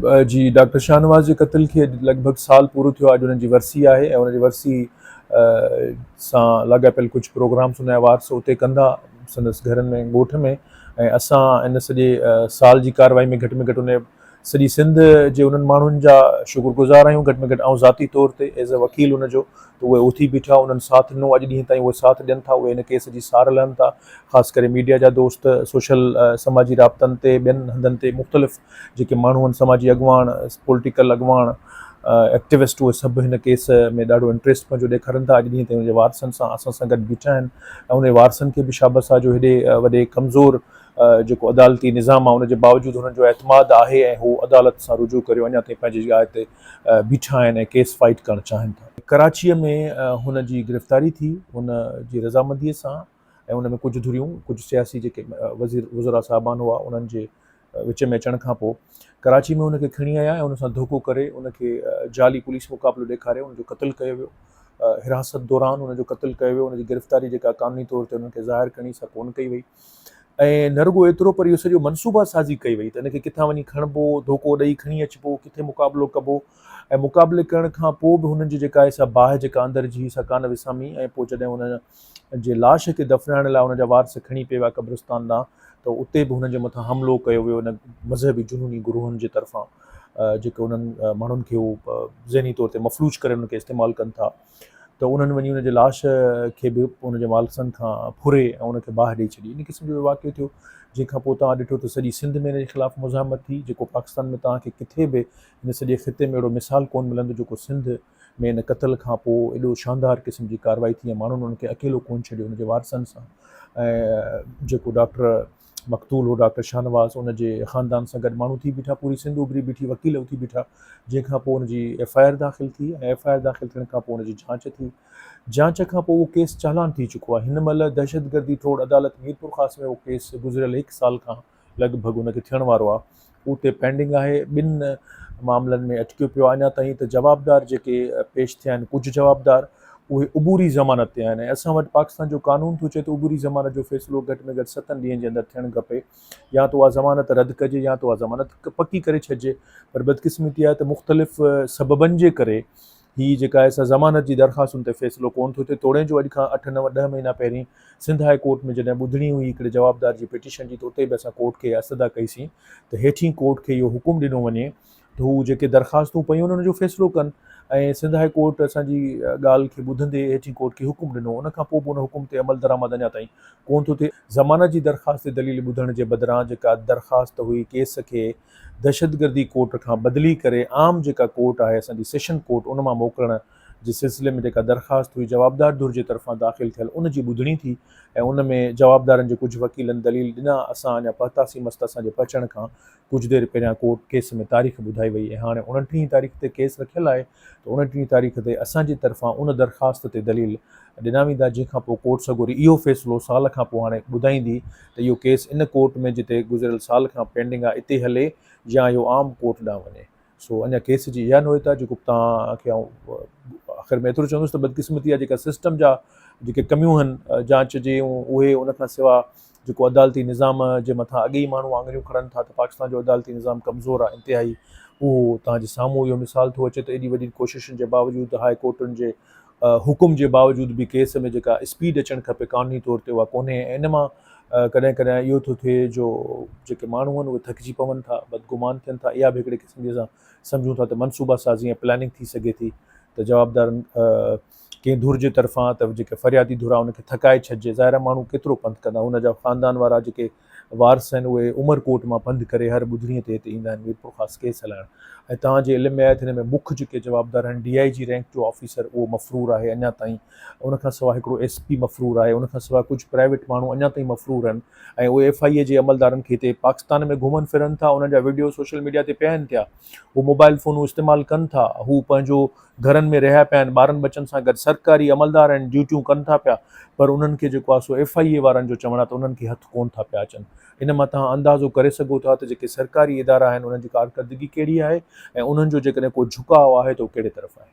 جي ڊاڪٽر شاهنواز جي قتل کي اڄ لڳ ڀڳ سال پورو ٿيو آهي اڄ انهن جي ورسي آهي ۽ انهن جي ورسي سان لاڳاپيل ڪجهه پروگرامس ان جا وارث اتي ڪندا سندس گهرن ۾ ڳوٺ ۾ ۽ اسان ان سڄي سال جي ڪارروائي ۾ گهٽ ۾ گهٽ ان سڄي سنڌ جي انهن ماڻهن جا شڪر گذار آهيون گهٽ ۾ گهٽ آئون ذاتي طور تي ايز اي وڪيل ان جو ته اهي اٿي بيٺا انهن ساٿ ڏنو اڄ ڏينهن تائين اهي ساٿ ڏين ٿا اهي ان ڪيس جي سار لهن ٿا خاص ڪري ميڊيا جا دوست سوشل سماجي رابطن تي ٻين هنڌن تي مختلف جيڪي ماڻهو آهن سماجي اڳواڻ پوليٽيڪل اڳواڻ ايڪٽيوسٽ اهي سڀ هن ڪيس ۾ ڏاڍو انٽريسٽ پنهنجو ڏيکارن ٿا اڄ ڏينهن تائين ان جي وارثن سان اسان سان گڏ بيٺا آهن ۽ ان جي وارثن کي به شابس آهي جو هيڏي وڏي ڪمزور جيڪو عدالتي نظام آهي ان جي باوجود هنن جو اعتماد آهي ۽ هو عدالت سان رجوع ڪريو اڃا تائين پنهنجي جاء تي بيٺا آهن ۽ ڪيس فائيٽ ڪرڻ چاهين ٿا. ڪراچيء ۾ هن جي گرفتاري ٿي هن جي رضامنديء سان ۽ ان ۾ ڪجهه ڌريون ڪجهه سياسي جيڪي وزير وزراء صاحبان هئا انهن جي وچ ۾ اچڻ کان پوء ڪراچي ۾ ان کي کڻي آيا ۽ ان سان ڌوڪو ڪري ان کي جعلي پوليس مقابلو ڏيکاري ان جو قتل ڪيو ويو. حراست دوران ان جو قتل ڪيو ويو ان جي گرفتاري جيڪا قانوني طور تي انهن کي ظاهر ڪرڻي سا ڪون ڪئي وئي ۽ نه رڳو ايترو پر اهو سڄو منصوبه سازي ڪئي وئي ته ان کي ڪٿان وڃي کڻبو ڌوڪو ڏئي کڻي اچبو ڪٿي مقابلو ڪبو ۽ مقابلي ڪرڻ کان پوء به هنن جي جيڪا سا باهه جيڪا اندر جي سا ڪان وسامي ۽ پوء جڏهن هن جي لاش کي دفنائڻ لاء ان جا وارث کڻي پئي ويا قبرستان ڏانهن ته اتي به هنن جي مٿان حملو ڪيو ويو ان مذهبي جنوني گروهن جي طرفان جيڪي انهن ماڻهن کي هو ذهني طور تي مفلوج ڪري انهن کي استعمال ڪن ٿا ته انهن وڃي ان جي لاش کي به ان جي مالسن کان ڦري ۽ ان کي باهه ڏئي ڇڏي ان قسم جو واقعو ٿيو جنهن کان پوء تان ڏٺو ته سڄي سنڌ ۾ ان جي خلاف مزاحمت ٿي جيڪو پاڪستان ۾ تان کي ڪٿي به ان سڄي خطي ۾ اهڙو مثال ڪون ملندو جيڪو سنڌ ۾ ان قتل کان پوء ايڏو شاندار قسم جي ڪارروائي ٿي ۽ ماڻهن ان کي اڪيلو ڪونه ڇڏيو ان جي وارثن سان ۽ جيڪو ڊاڪٽر مقتول هو ڊاڪٽر شاهنواز ان جي خاندان سان گڏ ماڻهو ٿي بيٺا پوري سنڌ اڀري بيٺي وڪيل اٿي بيٺا جنهن کان پوء ان جي ايف آء آر داخل ٿي ۽ ايف آء آر داخل ٿيڻ کان پوء ان جي جانچ ٿي جانچ کان پوء اهو ڪيس چالان ٿي چڪو آهي هن مهل دهشتگردي ٽوڙ عدالت ميرپورخاص ۾ اهو ڪيس گذريل هڪ سال کان لڳ ڀڳ ان کي ٿيڻ وارو آهي او تي پينڊنگ آهي ٻن معاملن ۾ اٽڪيو پيو آهي اڃا تائين ته جوابدار جيڪي پيش ٿيا آهن ڪجهه جوابدار اهي عبوري ضمانت تي آهن ۽ اسان وٽ پاڪستان جو قانون ٿو چئي ته عبوري ضمانت جو فيصلو گهٽ ۾ گهٽ ستن ڏينهن جي اندر ٿيڻ کپي يا ته اها ضمانت رد ڪجي يا ته اها ضمانت پڪي ڪري ڇڏجي پر بدقسمتي آهي ته مختلف سببن جي ڪري هي جيڪا ايس آء ضمانت جي درخواستن تي فيصلو ڪونه ٿو ٿئي توڻي جو اڄ کان اٺ نو ڏهه مهينا پهرين سنڌ هاء ڪورٽ ۾ جڏهن ٻڌڻي هئي هڪڙي جوابدار جي پٽيشن جي ته اتي به اسان ڪورٽ کي اها استدعا ڪئي سين ته هيٺين ڪورٽ کي اهو حڪم ڏنو وڃي ته هو جيڪي درخواستون پيون انهن جو فيصلو ڪن ۽ سنڌ هاء ڪورٽ اسان جي ڳالهه کي ٻڌندي هيٺين ڪورٽ کي حڪم ڏنو ان کان پوء به ان حڪم تي عملدرآمد اڃا تائين ڪونه ٿو ٿئي ضمانت جي درخواست تي دليل ٻڌڻ جي بدران جيڪا درخواست هئي ڪيس کي دهشتگردي ڪورٽ کان بدلي ڪري عام جيڪا ڪورٽ آهي اسان جي سيشن ڪورٽ ان مان موڪلڻ جي سلسلي ۾ جيڪا درخواست هئي جوابدار ڌر جي طرفان داخل ٿيل ان جي ٻڌڻي ٿي ۽ ان ۾ جوابدارن جي ڪجهه وڪيلن دليل ڏنا اسان اڃا پهتاسين مس ته اسان جي پهچڻ کان ڪجهه دير پهريان ڪورٽ ڪيس ۾ تاريخ ٻڌائي وئي ۽ هاڻي اوڻٽيهين تاريخ تي ڪيس رکيل آهي ته اڻٽيهين تاريخ تي اسان جي طرفان ان درخواست تي دليل ڏنا ويندا جنهن کان پوء ڪورٽ سڳوري اهو فيصلو سال کان پوء هاڻي ٻڌائيندي ته اهو ڪيس ان ڪورٽ ۾ جتي گذريل سال کان پينڊنگ آهي اتي هلي يا اهو عام ڪورٽ ڏانهن وڃي سو اڃا ڪيس جي اها نوعيتا جيڪو توهان کي آئون آخر ۾ ايترو چوندس ته بدقسمتي آهي جيڪا سسٽم جا جيڪي ڪميون هن جانچ جي اهي ان کان سوا جيڪو عدالتي نظام جي مٿان اڳي ئي ماڻهو آڱريون کڻن ٿا ته پاڪستان جو عدالتي نظام ڪمزور آهي انتهائي اهو توهان جي سامهون اهو مثال ٿو اچي ته ايڏي وڏي ڪوششن جي باوجود هاء ڪورٽن جي حڪم جي باوجود به ڪيس ۾ جيڪا اسپيڊ اچڻ کپي قانوني طور تي اها ڪونهي ۽ ان مان ڪڏهن ڪڏهن اهو ٿو ٿئي جو جيڪي ماڻهو آهن اهي ٿڪجي پون ٿا بدگمان ٿين ٿا اها به هڪڙي قسم جي اسان سمجهون ٿا ته منصوبه سازي ۽ پلاننگ ٿي سگهي ٿي ته جوابدارن ڪنهن ڌر جي طرفان ته جيڪي فريادي ڌر آهي ان کي ٿڪائي ڇڏجي ظاهر آهي ماڻهو ڪيترو پنڌ ڪندا ان جا خاندان وارا جيڪي وارث آهن اهي عمر ڪوٽ مان پنڌ ڪري هر ٻڌڻي تي هتي ايندا آهن ميرپور خاص ڪيس هلائڻ ۽ توهان جي علم ۾ آهي ته هن ۾ مک جيڪي جوابدار آهن ڊي آئي جي رينڪ جو آفيسر اهو مفرور آهي اڃا تائين ان کان سواء هڪڙو ايس پي مفرور آهي ان کان سواء ڪجهه پرائيويٽ ماڻهو اڃا تائين مفرور آهن ۽ اهي ايف آئي اي جي عملدارن کي هتي پاڪستان ۾ گهمن ڦرن ٿا انهن جا وڊيو سوشل ميڊيا تي پيا آهن ٿيا هو موبائل فونون استعمال ڪن ٿا هو پنهنجو گهرن ۾ رهيا پيا آهن ٻارن ٻچن سان گڏ سرڪاري عملدار آهن ڊيوٽيون ڪن ٿا پيا پر انهن کي جيڪو آهي سو ايف آئي اي وارن جو چوڻ آهي ته انهن کي هٿ ڪون ٿا پيا اچن ان مان توهان اندازو ڪري سگهو ٿا ته جيڪي سرڪاري ادارا آهن انهن جي ڪارڪردگي ڪهڙي آهي ۽ انهن جو جيڪڏهن ڪو جهڪاء آهي ته اهو ڪهڙي طرف آهي.